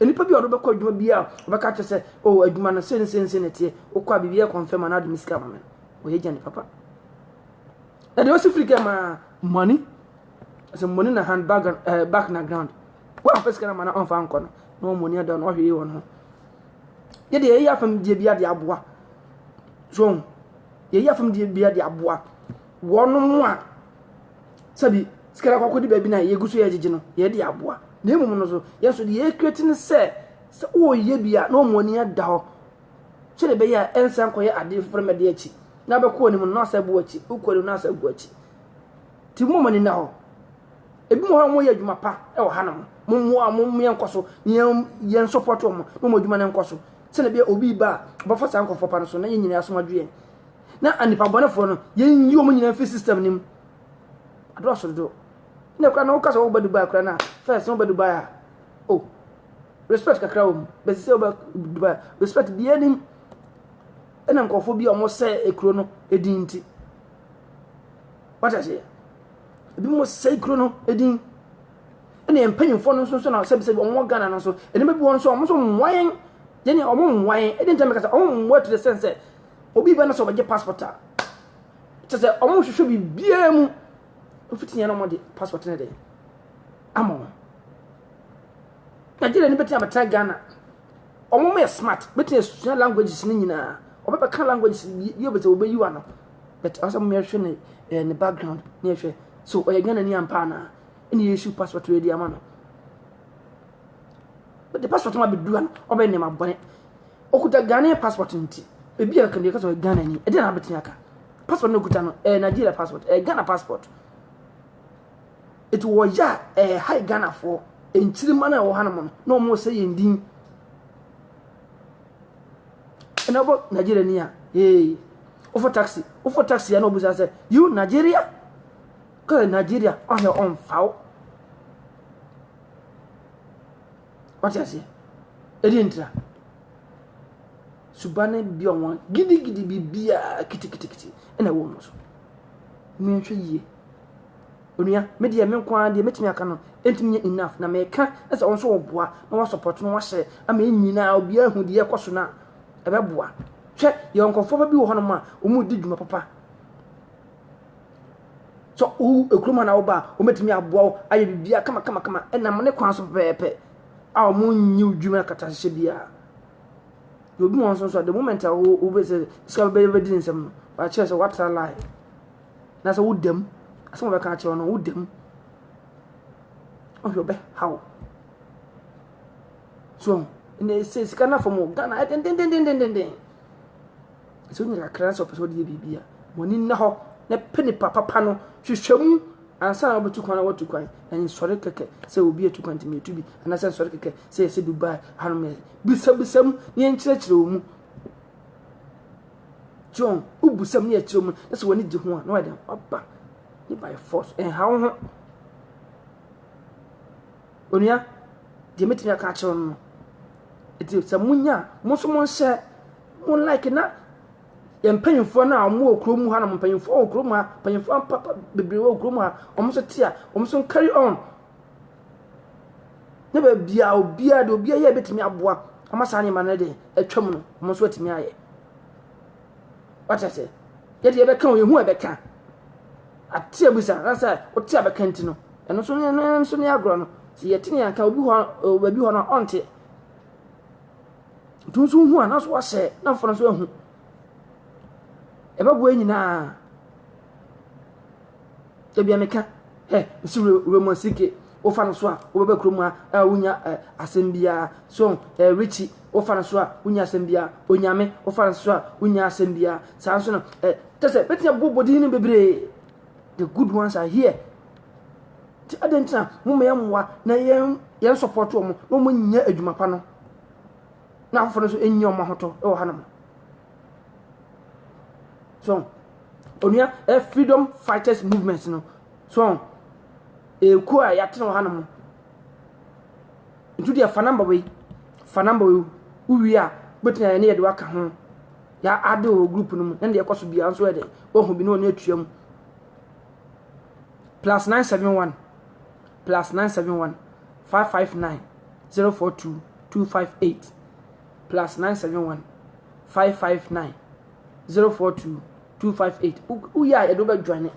Nnipa bi a wɔbɛkɔ adwuma bi a wɔbɛka akyerɛ sɛ o oh, adwuma no se ne se ne se ne teɛ wokɔ a biribi yɛ kɔnfɛm anaa de me sika ma me wɔyɛ gya ne papa na deɛ ɔsi firi kɛ maa money sɛ money na hand bag uh, back na ground wɔn afɛ sika na ma na ɔnfa nkɔ no na wɔn money ada na ɔhwɛ yie wɔn ho yɛ deɛ yɛyɛ afam deɛ bi adeɛ aboa so yɛyɛ afam deɛ bi adeɛ aboa wɔn a sɛbi sika no akɔkɔdi baabi na yɛgu so yɛgyegye no yɛde aboa na mmom no so yɛn so deɛ yɛkura ti no sɛ sɛ wɔreyɛ bi a na wɔn ani ada hɔ sɛdeɛ ɛbɛyɛ a ɛnsan kɔyɛ adeɛ foforɔ mɛde akyi na bɛkɔ anim no na asɛ bo akyi wokɔ anim na asɛ gu akyi ti mu mani na hɔ ebi mu hɔ mo yɛ adwuma pa ɛwɔ ha na mo mo mo a mo yɛ nkɔ so na yɛn yɛn support wɔn na wɔn adwuma no nkɔ so sɛdeɛ ɛbɛyɛ obi ba a ɔbɛfa saa nkɔfoɔ pa no so na yɛn nyinaa asom adwo yɛn na nnipa bɔnefoɔ no yɛnyi wɔn nyinaa mfiri system no mu adɔɔso dodo na kora na woka sɛ woba dubai kora na first na woba dubai a o oh, respect kakra wɔ mu bɛsi sɛ woba dubai respect biaa nim ɛna nkurɔfoɔ bi a wɔn sɛ ekuro no edin nti wata aseɛ ebi mo sɛ ekuro no edin ɛna mpanyinfoɔ no nso nso na sɛbisɛbi wɔn wɔ ghana no nso ɛnima bi wɔn nso wɔn nso mmoa yɛn yɛn wɔn mmoa yɛn ɛdi ntɛm kasa wɔn mmoa to the sense sɛ. Obi bɛ no sɛ ɔbɛgye passport a kyɛ sɛ ɔmo hwehwɛ biribiara mu mfiti yɛn na ɔmo de passport no de ama wɔn Nigeria ni bɛtumi abɛtena Ghana ɔmo mo yɛ smart bɛtumi asua languages no nyinaa ɔbɛbɛka languages bi yɛ bɛtɛ ɔbɛyi wa no but ɔsɛ mo yɛhwɛ ne ɛɛ ne background ne yɛhwɛ so ɔyɛ Ghana ni ampa anaa ɛna yɛsu passport yɛ di ama no But the passport ma bɛdua no, ɔbɛyɛ nneɛma bɔne. Okuta Ghanaian passport nti, ebi a kɛmɛ kasa Ghana ni, ɛdeɛ na abɛtumi aka. Passport no okuta no, ɛyɛ Nigeria passport, ɛyɛ Ghana passport. Eti wɔyɛ a, ɛyɛ ha Ghanafoɔ, nkyirima no a ɛwɔ hanom no, na wɔn sɛ yɛn din. Ɛna ɔbɔ Nigeria ni a, ee, wofɔ taxi, wofɔ taxi a na ɔbusa sɛ, you Nigeria? Kɔsɛ Nigeria, ɔhɛ ɔnfaw. Wate aseɛ? Ɛdeɛ ntira. Suba no bi a wɔn gidigidi biribiara kitikitikiti ɛna ɛwɔ wɔn so. Mehwɛ yie. Onua, me deɛ me nko ara deɛ mɛtumi aka no ɛntumi nyɛ enough na mɛka ɛsɛ wɔn nso wɔboa na wɔasɔpɔt na wɔahyɛ ama yɛn nyinaa obiara hu deɛ ɛkɔ so no a ɛbɛboa. Hwɛ, yɛwɔ nkurɔfoɔ pa bi wɔ hɔnom a wɔredi dwuma papa. So wo ekurom a na woba a, wɔbɛtumi aboa wo ayɛ biribiara kamakamakama ɛnam ne kwan so pɛpɛɛpɛ a wɔnyi wo dwuma akatahyehyɛ biara. Deɛ obi wɔn nso nso a the moment a wo wobɛ sɛ sika bɛbɛ bɛdi ne nsam no wɔakyerɛ sɛ woatra line na sɛ wodam asɛm a wɔbɛka akyerɛ wo no wodam ɔhwɛ ɔbɛ haw so na sɛ sika no afam o ghana ɛdendendendenden Sɛ wonya kakra sɛ wɔpɛ sɛ wɔde yɛ biribi a, wɔn ani nna hɔ na pɛ nipa papa no, hwehwɛ mu ansa na wɔbɛtu kwan na wɔatu kwan. Na nsɔre kɛkɛ sɛ obi atu kwan nti metu bi, anaasɛ nsɔre kɛkɛ sɛ yɛsɛ Dubai hanom yɛ. Bisabisa mu na yɛnkyerɛkyerɛ wɔn mu. John, wobisa mu na yɛkyerɛ mu na sɛ w'ani gye ho a na wɔde aba ne by force. Ɛnha wo ho. Onua, deɛ mɛtumi aka akyerɛ wo no no, nti sɛ monya a, mo nso monhyɛ, mo like na yɛn mpanyinfoɔ no a wɔn wɔ kurom ha nom mpanyinfoɔ wɔ kurom ha mpanyinfoɔ papa bebree wɔ kurom ha wɔn nso te a wɔn nso carry on ne baabi a obiara de obiara yɛ betumi aboa ama saa nneɛma no de atwam no wɔn nso atumi ayɛ wate ase yɛde yɛbɛka o yɛhu a ɛbɛka ate abusa ansa wote a bɛka nti no ɛno nso ne no nso ne agorɔ no sɛ yɛte ne yɛnka obi hɔ baabi hɔ no ɔnte nti nso hu a na so wahyɛ na mfono nso ahu ɛbɛboa nyinaa Dabi a meka, hɛ, nsi Raymond Sike, wofa no so a, wobɛba kurom a, a wonya ɛ, asɛm biara. So, ɛ, Richie, wofa no so a, wonya asɛm biara. Onyame, wofa no so a, wonya asɛm biara. Saa nso no, ɛ, kyɛ sɛ, bɛtumi abɔ bɔdin no bebree. The good ones are here. Nti adɛn nti na moma yɛn mmoa na yɛn yɛn support wɔn na wɔn nyɛ adwuma pa no na afoforo nso nyɛ wɔn ahotɔ wɔ hanom. so onua ɛ freedom fighters movement no so ekuo a yɛatena wɔ hanom ntu deɛ fa namba wei fa namba wei wowie a wobɛtumi ayɛ ne yɛde waka ho yɛade wɔ group no mu ɛne deɛ ɛkɔ so biara nso ɛde woahu bi ne ɔne atua mu plus 971 plus 971 559 042 258 plus nine seven one five five nine zero four two two five eight woyɛ a yɛde wobɛ join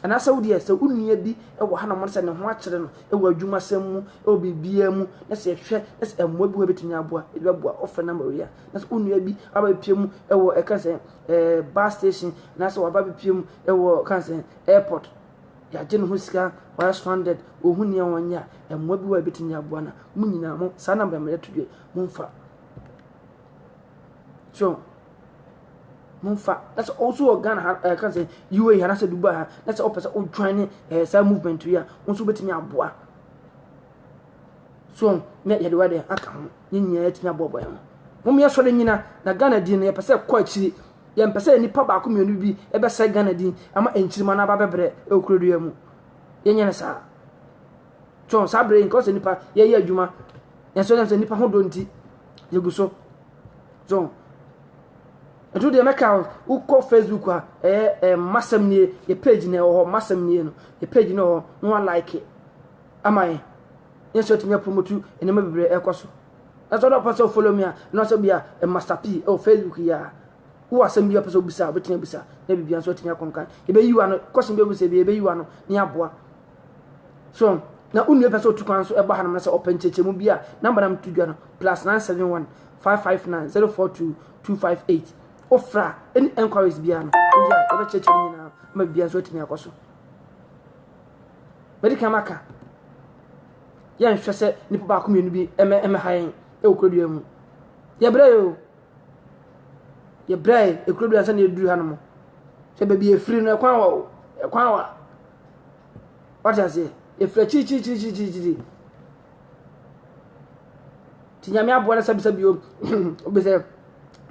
anaasɛ wodeɛ sɛ wo nua bi wɔ ha na mo sɛ ne ho akyerɛ no wɔ adwumasɛm mu wɔ biribiara mu na sɛ yɛhwɛ na sɛ mmoa bi wɔ bɛtumi aboa yɛde bɛboa ɔfrɛ number wei a na sɛ wo nua bi aba bɛpie mu wɔ ɛka sɛ eh, bus station na sɛ waba bɛpie mu wɔ ɛka sɛ airport yɛagye ne ho sika wɔyɛ stranded wɔhu nea wɔnyɛ a mmoa bi wɔ bɛtumi aboa no mo nyinaa mo saa number mmerɛ to deɛ Momfa. So, momfa. Na sɛ ɔso wɔ Ghana ha, ɛka eh, sɛ UAE ha, na sɛ Dubai ha, na sɛ ɔpɛ sɛ ɔjoin ne ɛɛ eh, saa movement yi a, wɔn nso bɛtumi aboa. So, na yɛde wa deɛ aka ho, yɛn nyinaa yɛtumi aboaboa yɛn ho. Wɔn yɛ sɔre nyina, na Ghana din no yɛpɛ sɛ ɛkɔ akyiri. Yɛmpɛ sɛ nipa baako mmienu bi ɛbɛsɛ Ghana din ama nkyirima no aba bɛbrɛ ɛwɔ kurodoya mu. Yɛnyɛ no saa. Tɔn saa bere nka sɛ nipa yɛyɛ adwuma yɛsɛ yɛn sɛ nipa ho dɔ nti yɛgu so tɔn ɛtu deɛ mɛka wokɔ facebook a ɛyɛ ɛɛ masɛm nie yɛ page na ɛwɔ hɔ masɛm nie no yɛ page na ɛwɔ hɔ na wa like ama yɛn yɛn nso atumi apromotu nneɛma bebree ɛkɔ so ɛsɛ ɔdɔ pɛ sɛ follow me a ɛna sɛ bia master p ɛwɔ facebook yi a wowɔ asɛm bi a pɛ sɛ wobisa a wobɛtumi abisa na biribi nso atumi akɔnkan yɛbɛyi wa no kɔsɛm bi abisa bi yɛbɛyi wa no ne aboa So na wo nua pɛ sɛ otu kwan so ɛba hanom na sɛ ɔpɛ nkyerɛkyerɛmu bi a, namba na meto dwa no, plus 971 559 042 258. Wofrɛ a, any enquiries biara no, woyɛ a yɛbɛkyerɛkyerɛ no nyinaa ma biribiara nso atumi akɔ so. Mɛde kan maka, yɛnhwɛ sɛ nnipa baako mmienu bi ɛmɛ ɛmɛ ha yɛn ɛwɔ kurodua mu. Yɛbrɛ yɛ o. Yɛbrɛ yɛ ekurodua sɛ na yɛduru hanom. Sɛ baabi efiri no ɛkwan wa o, ɛkwan wa. Wate aseɛ? Yɛfiri akyirikyirikyirikyirikyiri. Nti nyame aboa no sɛbisɛ bio bi sɛ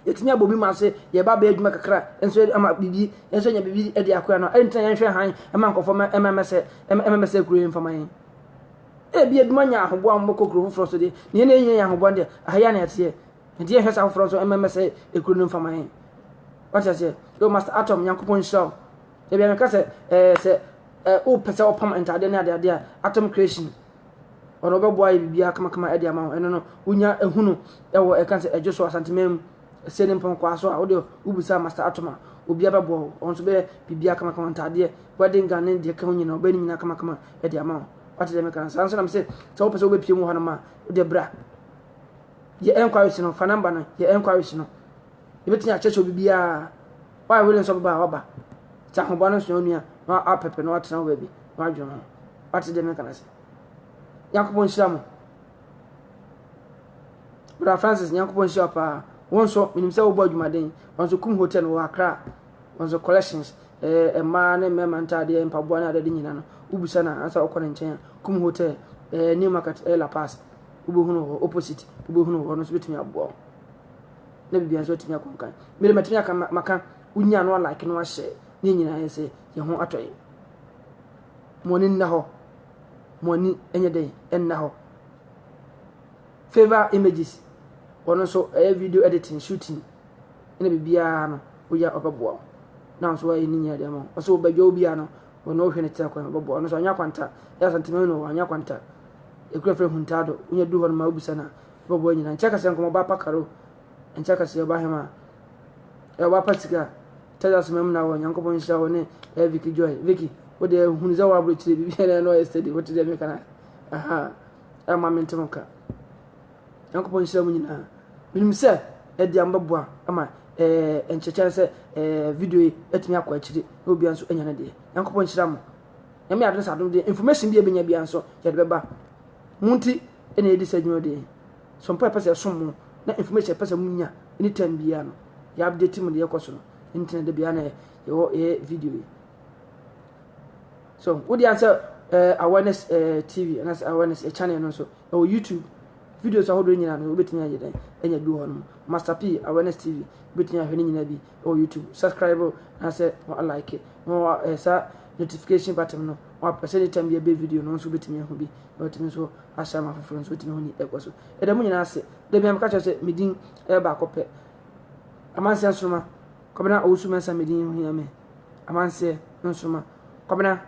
yɛtumi abɔ bi mu ase yɛba bɛyɛ adwuma kakra nso ama biribi nso nya biribi de akoa no ɛnti na yɛnhwɛ han ɛma nkɔfoɔ ɛma mɛsɛ ɛma mɛsɛ kuro yɛ mfama yɛn ebi adwuma nya ahoboa a wɔbɛkɔ kuro foforɔ so deɛ na yɛn na yɛnyɛ yɛn ahoboa deɛ ahaya na ɛteɛ nti yɛhwɛ saa foforɔ nso ɛma mɛsɛ kuro no mfama yɛn wɔte aseɛ yɛ master atom nyankopɔn nhyira wo Ebi a meka sɛ ɛɛ sɛ ɛɛ wopɛ sɛ wɔpam ntadeɛ ne adeade a atom creation ɔno ɔbɛboa yɛ biribiara kamakama ɛde ama ho ɛno no wonya ehunu ɛwɔ ɛka sɛ ɛdwo so asanteman mu ɛsɛ ne mpɔnkɔa so a wode wobisa master atom a obia bɛboa wo ɔno nso bɛyɛ biribiara kamakama ntadeɛ wedding gown ne deɛ ka ho nyina ɔbɛyɛ ne nyina kamakama ɛde ama ho wate deɛ meka no saa nso nam sɛ sɛ wopɛ sɛ wobɛpie mu hɔ no ma wode bra yɛ enquiries no fa number no yɛ enquiries no Yɛbɛtumi akyerɛkyerɛ biribiara. Why willing nso bɛba a waba. Sɛ ahoba no nsoa onua na apɛpɛ na watena hɔ baabi na wadwene ho. Wate deɛ meka no ase. Nyankopɔn nhyira mo. Brother Francis, Nyankopɔn nhyira paa. Wɔn nso, menim sɛ wobɔ adwumaden. Wɔn nso kum hotel wɔ Accra. Wɔn nso collections, eh, mmaa ne mmarima ntaadeɛ, mpaboa ne adeade nyinaa no. Wobisa no a, ansa wokɔ ne nkyɛn a, kum hotel, eh, New Market, eh, La Paz. Wobɛhunu hɔ, opposite, wobɛhunu hɔ, no nso bɛtumi aboa wo. na biribi nso atumi akɔ nkan mede matumi aka maka wonya no alike no ahyɛ ne nyinaa yɛ sɛ yɛn ho atɔ yɛ mo ani nna hɔ mo ani nyɛ dɛn nna hɔ favor images ɔno nso ɛyɛ video editing shooting ɛna biribiara no woyɛ ɔbɛboa wo na nso ayɛ ne nyinaa deɛ ma ɔsɛ wobɛdwa wo biara no ɔno wohwɛ ne tira kwan ɔbɛboa ɔno nso anya kwanta ɛyɛ asantema no wɔ anya kwanta ɛkura frɛ huntaado wonya du hɔ no ma wobisa no a Bɔbɔ nyina nkyɛ kɛsɛ nkɔmɔ ɔba pa karo nkyɛ kɛsɛ ɔba hɛma ɛ ɔba pa sika Texas mɛm na wɔ Nyankopɔn nhyira wɔ ne ɛ Vicky Joy Vicky wo deɛ hunu sɛ wɔ aburo kyire biribi na ɛna ɔyɛ steady wote deɛ meka na aha ɛ ma mente mo ka Nyankopɔn nhyira mu nyinaa menim sɛ ɛdi am bɛboa ama ɛ nkyɛkyɛn sɛ ɛ video yi atumi akɔ akyire na obia nso anya ne deɛ Nyankopɔn nhyira mo nyame adom sɛ adom deɛ information bi ɛbɛnya bia nso yɛde bɛba mo nti ɛna ɛdi saa dwuma deɛ so mpo ɛpɛ sɛ ɛsom mo na information ɛpɛ sɛ mo nya anytime biara no yɛ update mo deɛ ɛkɔ so no ntina da biara na yɛwɔ yɛ video yi so wode ansɛ uh, eh, awareness uh, eh, tv anaasɛ awareness uh, channel no nso ɛwɔ youtube videos ahodoɔ nyinaa no wobɛtumi ayɛ dɛn ɛnya bi wɔ hɔ no master p awareness tv wobɛtumi ahwɛ no nyinaa bi wɔ YouTube subscribe na sɛ wa like na wa eh, sa notification button no wa press any time yɛ bɛ video no nso betumi ahu bi na watumi nso ahyɛ ama foforɔ nso betumi ahu ni ɛkɔ so ɛda mu nyinaa ase dabi ameka kyerɛ sɛ medin ɛyɛ baako pɛ amanseɛ nsoroma kɔbena owusu mɛnsa medin ho hia me amanseɛ nsoroma kɔbena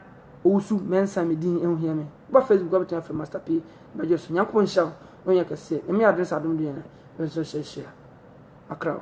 owusu mɛnsa medin ho hia me ba facebook wabɛtumi afɛ master p bɛgye so nyankopɔ nhyɛ wo na ɔnyɛ kɛseɛ ɛmi adom sɛ adom deɛ na ɛbɛnso hyɛhyɛ akra wo